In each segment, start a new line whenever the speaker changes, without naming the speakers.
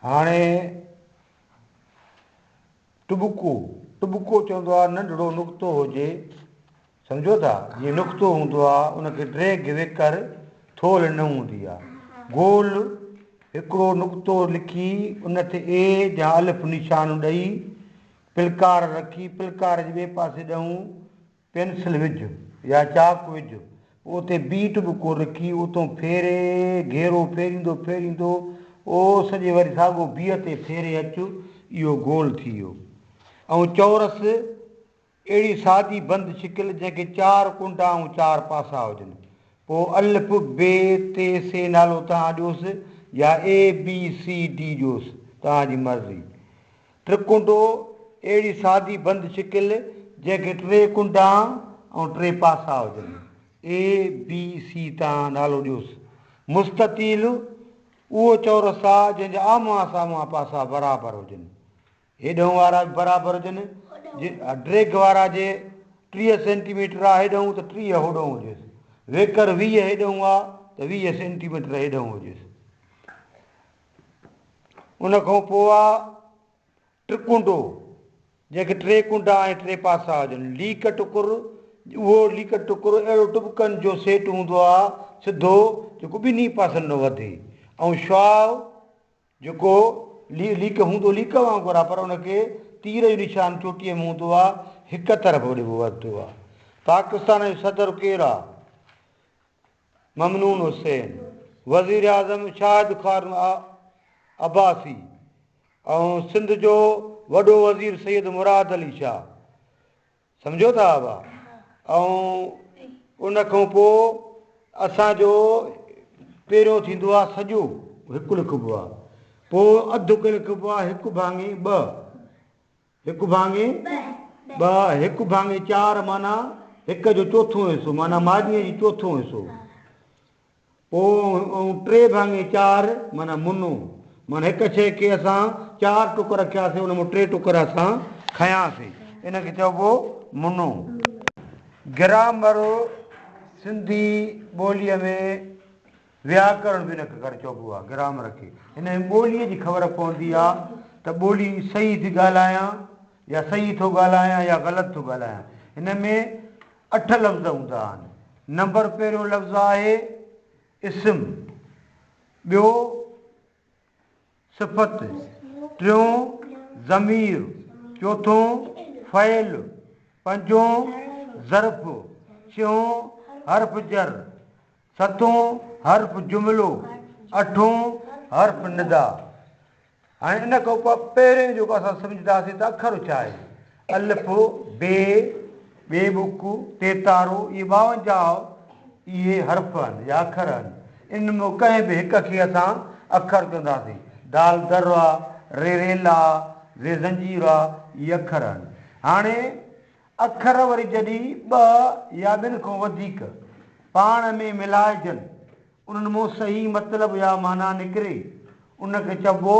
هاڻي ٽٻڪو، ٽٻڪو چوندو آهي ننڍڙو نقطو هجي سمجهو ٿا جيئن نقطو هوندو آهي ان کي ڊريگ ويڪر ٿولهه نه هوندي آهي گول هڪڙو نقطو لکي ان تي اي يا الف نشان ڏئي پلڪار رکي پلڪار جي ٻئي پاسي ڏئون پينسل وجهه يا چاڪ وجهه پوء اتي بيٽ به ڪو رکي اتون ڦيري گهيرو ڦيريندو ڦيريندو او سڄي وري ساڳو بيء تي ڦيري اچ اهو گول ٿي ويو ۽ چورس اهڙي سادي بند شڪل جنهن کي چار ڪنڊا ۽ چار پاسا هجن پوء الف ب ت س نالو توهان ڏيوس يا اي بي سي ڊي ڏيوس توهان جي مرضي ٽرڪونڊو، اهڙي سادي بند شڪل جنهن کي ٽي ڪنڊا ۽ ٽي پاسا هجن، اي، بي، سي تان نالو ڏيوس. مستطيل، اهو چورس آ جنهن جا آمهون سامهون پاسا برابر هجن. هيڏنهون وارا به برابر هجن. ڊريگ وارا جي ٽيهه سينٽي ميٽر آ هيڏنهون ته ٽيهه هوڏنهون هجيس. ويڪر ويهه هيڏنهون آ ته ويهه سينٽي ميٽر هيڏنهون هجيس. ان کان پوء آ ٽڪونڊو، جنهن کي ٽي ڪنڊا ۽ ٽي پاسا هجن. ليڪ ٽڪر، اهو ليڪ ٽڪر اهڙو ٽٻڪن جو سيٽ هوندو آ، سڌو، جيڪو ٻنهي پاسن ڏانهن وڌي، ۽ شعاع، جيڪو ليڪ هوندو ليڪ وانگر آ، پر ان کي تير جو نشان چوٽيء ۾ هوندو آ، هڪ طرف وڌبو آ. پاڪستان جو صدر ڪير آ؟ ممنون حسين، وزيراعظم شاهد خارن عباسي ۽ سنڌ جو وڏو وزير سيد مراد علي شاهه سمجهو ٿا ابا ۽ ان کان پوء اسان جو پهريون ٿيندو آهي سڄو هڪ لکبو آهي پوء اڌ لکبو آهي هڪ ڀاڱي ٻه هڪ ڀاڱي ٻه، هڪ ڀاڱي چار معنيٰ هڪ جو چوٿون حصو معنيٰ ماڳيء جي چوٿون حصو پوء ۽ ٽي ڀاڱي چار معنيٰ منو معنيٰ هڪ شيء کي اسان چار ٽڪ رکياسين ان مان ٽي ٽڪر اسان کنياسين ان کي چئبو منو. گرامر سنڌي ٻوليء ۾ وياڪرڻ به نڪ ڪرڻ چئبو آهي، گرامر کي ان جي ٻوليء جي خبر پوندي آهي ته ٻولي صحيح ٿي ڳالهايان يا صحيح ٿو ڳالهايان يا غلط ٿو ڳالهايان. هن ۾ اٺ لفظ هوندا آهن. نمبر پهريون لفظ آهي اسم، ٻيو. صفت، ٽيون ضمير، چوٿون فعل، پنجون ظرف، ڇهون حرف جر، ستون حرف جملو، اٺون حرف ندا. هاڻي ان کان پوء پهرين جيڪو اسان سمجهنداسين ته اکر ڇا آهي؟ الف، بي، ٻي بوڪ، تيتارو، اهي ٻاونجاهه اهي حرف آهن يا اکر آهن. انهن مان ڪنهن به هڪ کي اسان اکر چونداسين. دال درا، ري ريلا، زي زنجيرا، اهي اکر آهن. هاڻي اکر وري جڏهن ٻه يا ٻن کان وڌيڪ پاڻ ۾ ملائجن، انهن مان صحيح مطلب يا معنيٰ نڪري، ان کي چئبو.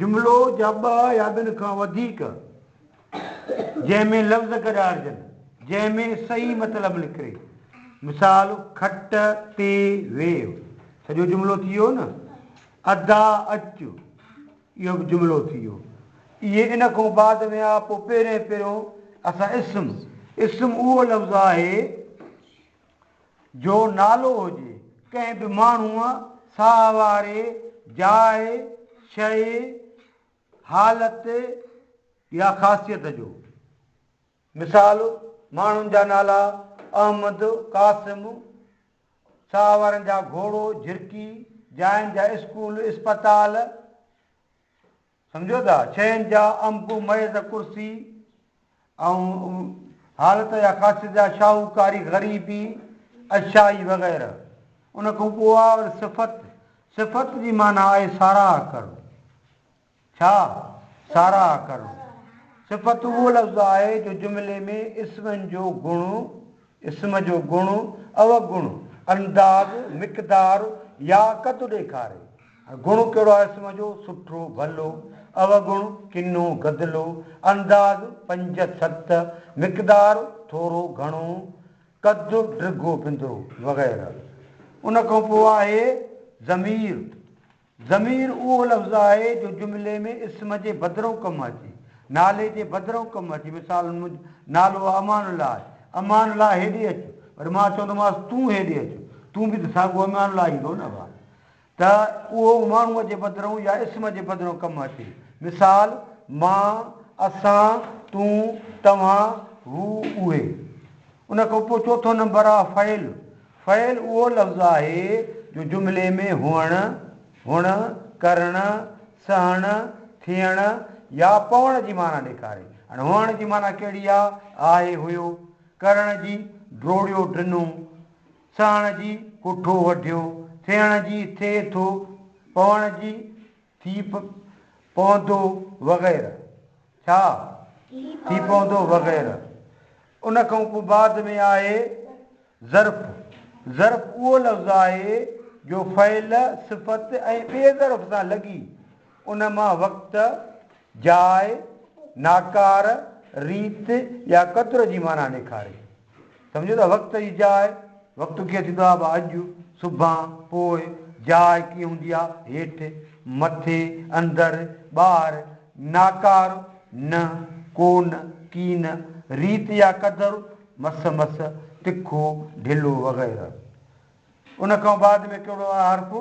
جملو جا ٻه يا ٻن کان وڌيڪ جنهن ۾ لفظ گڏاڙجن، جنهن ۾ صحيح مطلب نڪري. مثال، کٽ تي ويهه، سڄو جملو ٿي ويو نه. ادا اچ، اهو به جملو ٿي ويو. اهي ان کان بعد ۾ آ، پوء پهرين پهريون اسان اسم، اسم اهو لفظ آهي. جو نالو هجي، ڪنهن به ماڻهوء ساهه واري جاء، شيء، حالت يا خاصيت جو. مثال، ماڻهن جا نالا، احمد، قاسم، ساهه وارن جا گهوڙو، جهرڪي، جاين جا اسڪول، اسپتال. سمجهو ٿا، شين جا امڪ ميز ڪرسي ۽ حالت يا خاصيت جا شاهوڪاري غريبي اشيائي وغيره ان کان پوء آء ور صفت صفت جي معنيٰ آهي ساراهه ڪرڻ ڇا ساراهه ڪرڻ صفت اهو لفظ آهي جو جملي ۾ اسمن جو گڻ اسم جو گڻ، اوگڻ، انداز، مقدار يا قد ڏيکاري. گڻ ڪهڙو آهي اسم جو، سٺو، ڀلو، اوگڻ، ڪنو، گدلو، انداز، پنج، ست، مقدار، ٿورو، گهڻو، قد، ڊگهو، بندرو وغيره. ان کان پوء آهي ضمير. ضمير اهو لفظ آهي جو جملي ۾ اسم جي بدرئون ڪم اچي، نالي جي بدرئون ڪم اچي، مثالن منهنجو نالو امان الله آهي، امان الله هيڏي اچ، وري مان چوندومانس تون هيڏي اچ، تون به ته ساڳو امان الله ئي ٿو نه ڀاء، ته اهو ماڻهوء جي بدرئون يا اسم جي بدرئون ڪم اچي، مثال، مان، اسان، تون، توهان، هو، اهي. ان کان پوء چوٿون نمبر آهي فعل. فعل اهو لفظ آهي جو جملي ۾ هئڻ، هئڻ، ڪرڻ، سهڻ، ٿيڻ يا پوڻ جي معنيٰ ڏيکاري. هاڻي هئڻ جي معنيٰ ڪهڙي آ؟ آهي، هيو. ڪرڻ جي، ڊوڙيو، ڊنو. سهڻ جي، ڪٺو، وڍيو. ٿيڻ جي، ٿئي ٿو. پوڻ جي، ٿي پوندو وغيره ڇا ٿي پوندو وغيره ان کان پوء بعد ۾ آهي ظرف ظرف اهو لفظ آهي جو فعل صفت ۽ ٻئي ظرف سان لڳي ان مان وقت جاء ناڪار ريت يا قدر جي معنيٰ ڏيکاري سمجهو ته وقت جي جاء، وقت ڪيئن ٿيندو آهي به اڄ، سڀان، پوء، جاء ڪيئن هوندي آهي هيٺ، مٿي، اندر، ٻاهر، ناڪار، نه، ڪونه، ڪين، ريت يا قدر، مس مس، تکو، ڍلو وغيره. ان کان بعد ۾ ڪهڙو آهي حرف؟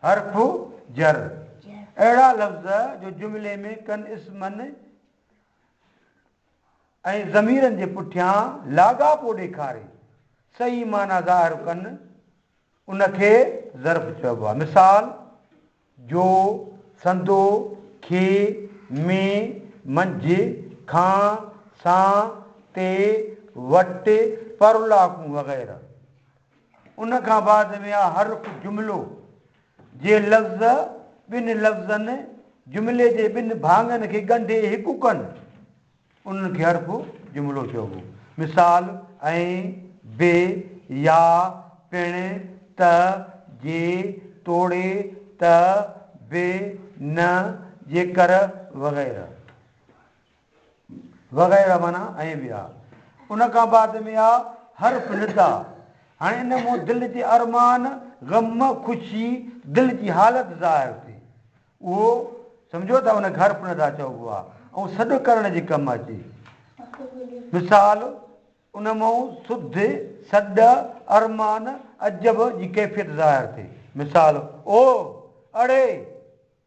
حرف جر. اهڙا لفظ جو جملي ۾ ڪن اسمن، ۽ ضميرن جي پٺيان لاڳاپو ڏيکاري صحيح معنيٰ ظاهر ڪن، ان کي ظرف چئبو آهي. مثال، جو، سندو، کي، ۾، منجهه، کان، سان، تي، وٽ، پر الله ڪون وغيره. ان کان بعد ۾ آهي حرف جملو، جي لفظ، ٻن لفظن، جملي جي ٻن ڀاڱن کي ڳنڍي هڪ ڪن، انهن کي حرف جملو چئبو. مثال، ۽، به، يا، پڻ، ته، جي، توڙي، ته، به، نه، جيڪر، وغيره. وغيره معنيٰ ائين به آ. ان کان بعد ۾ آ حرف ندا. هاڻي ان مون دل جي ارمان، غم، خوشي، دل جي حالت ظاهر ٿي. اهو سمجهو ته ان کي حرف ندا چئبو آ ۽ سڏ ڪرڻ جي ڪم اچي. مثال، ان مون سڌ، سڏ، ارمان، عجب جي ڪيفيت ظاهر ٿي. مثال، اوه! اڙي!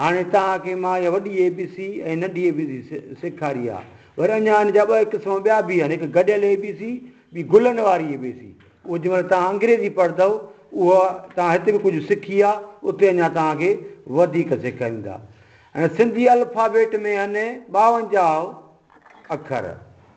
هاڻي توهان کي مان اها وڏي اي بي سي ۽ ننڍي اي بي سي سيکاري آهي. وري اڃا ان جا ٻه قسم ٻيا به آهن، هڪ گڏيل اي بي سي، ٻي گلن واري اي بي سي. اهو جنهن مهل توهان انگريزي پڙهندؤ، اها توهان هتي به ڪجهه سکي آهي، اتي اڃا توهان کي وڌيڪ سيکاريندا. هن سنڌي الفابيٽ ۾ هن ٻاونجاهه اکر.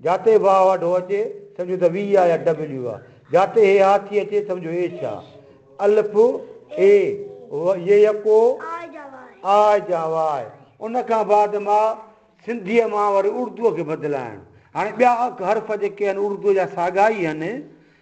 جاتي به اها ڍو اچي، سمجهو ته وي آ يا ڊبليو آ. جاتي هي آ ٿي اچي، سمجهو ايڇ آ. الف، اي، و، ي يڪو، آء جا واء. ان کان بعد مان سنڌيء مان وري اردوء کي بدلائڻ. هاڻي ٻيا اک حرف جيڪي هن اردوء جا ساڳا ئي هن.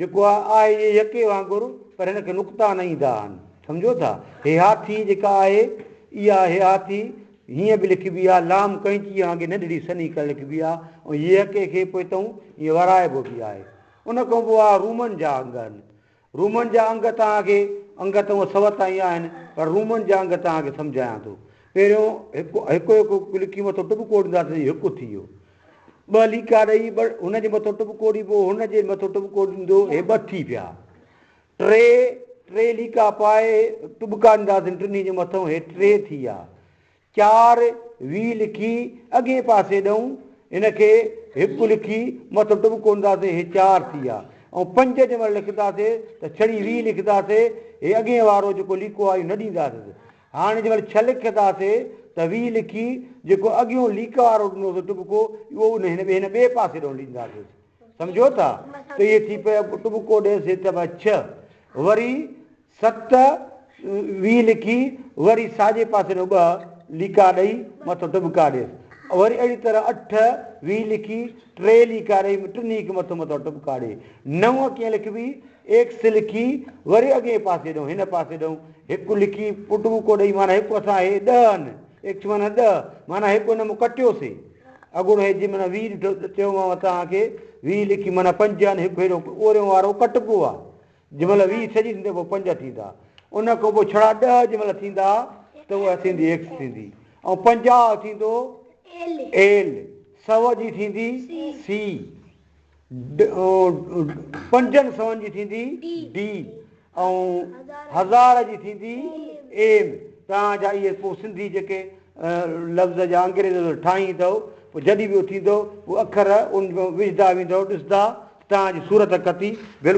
جيڪو آهي آهي اهي يڪي وانگر پر هن کي نقطا نه ايندا آهن سمجهو ٿا هي هاٿي جيڪا آهي اها هي هاٿي هيئن به لکبي آهي لام ڪئنچيء وانگي ننڍڙي سنهي ڪڻ لکبي آهي ۽ يڪي کي پوء تئون ائين ورائبو به آهي ان کان پوء آهي رومن جا انگ آهن رومن جا انگ توهان کي انگ ته هونء سوء تائين آهن پر رومن جا انگ توهان کي سمجهايان ٿو پهريون هڪ هڪ هڪ لکي مٿو ٽٻڪو ڏينداسين هڪ ٿي ويو ٻه ليڪا ڏئي ٻه هن جي مٿو ٽٻڪو ڏبو، هن جي مٿو ٽٻڪو ڏندو، هي ٻه ٿي پيا. ٽي ٽي ليڪا پائي ٽٻڪا ڏنداسين ٽنهي جي مٿئون، هي ٽي ٿي ويا. چار وي لکي اڳئين پاسي ڏئون، هن کي هڪ لکي مٿو ٽٻڪو ڏنداسين، هي چار ٿي ويا. ۽ پنج جنهن مهل لکنداسين ته ڇڙي وي لکنداسين، هي اڳئين وارو جيڪو ليڪو آهي اهو نه ڏينداسين. هاڻ جي مهل ڇهه لک ٿا سي ته ويهه لکي جيڪو اڳيون ليڪ وارو ڏنو سو ٽٻڪو اهو ان هن هن ٻئي پاسي ڏون ڏينداسين سمجهو ٿا ته اهي ٿي پيا ٽٻڪو ڏهه سي ته بس ڇهه وري ست ويهه لکي وري ساڄي پاسي ڏون ٻه ليڪا ڏئي مٿو ٽٻڪا ڏيس وري اهڙي طرح اٺ ويهه لکي ٽي ليڪا ڏئي ٽنهي کي مٿو مٿو ٽٻڪا ڏي نو ڪيئن لکبي ايڪس لکي وري اڳئين پاسي ڏئون هن پاسي ڏئون هڪ لکي پٽ ٻوڪو ڏئي معنيٰ هڪ اسان هي ڏهه ان ايڪس معنيٰ ڏهه معنيٰ هڪ ان مون ڪٽيو سي اڳوڻو هي جي معنيٰ ويهه ڏٺو چيومانو توهان کي ويهه لکي معنيٰ پنج ان هڪ هيڏو اوريون وارو ڪٽبو آ جي مهل ويهه سڄي ٿيندي پوء پنج ٿيندا ان کان پوء ڇڙا ڏهه جي مهل ٿيندا ته اها ٿيندي ايڪس ٿيندي ۽ پنجاهه ٿيندو ايل سؤ جي ٿيندي سي پنجن سون جي ٿيندي D ۽ هزار جي ٿيندي M توهان جا اهي پوء سنڌي جيڪي لفظ جا انگريز لفظ ٺاهين ٿو پوء جڏهن به اهو ٿيندو پوء اکر ان ۾ وجهدا ويندو ڏسندا توهان جي صورت ڪتي بلڪل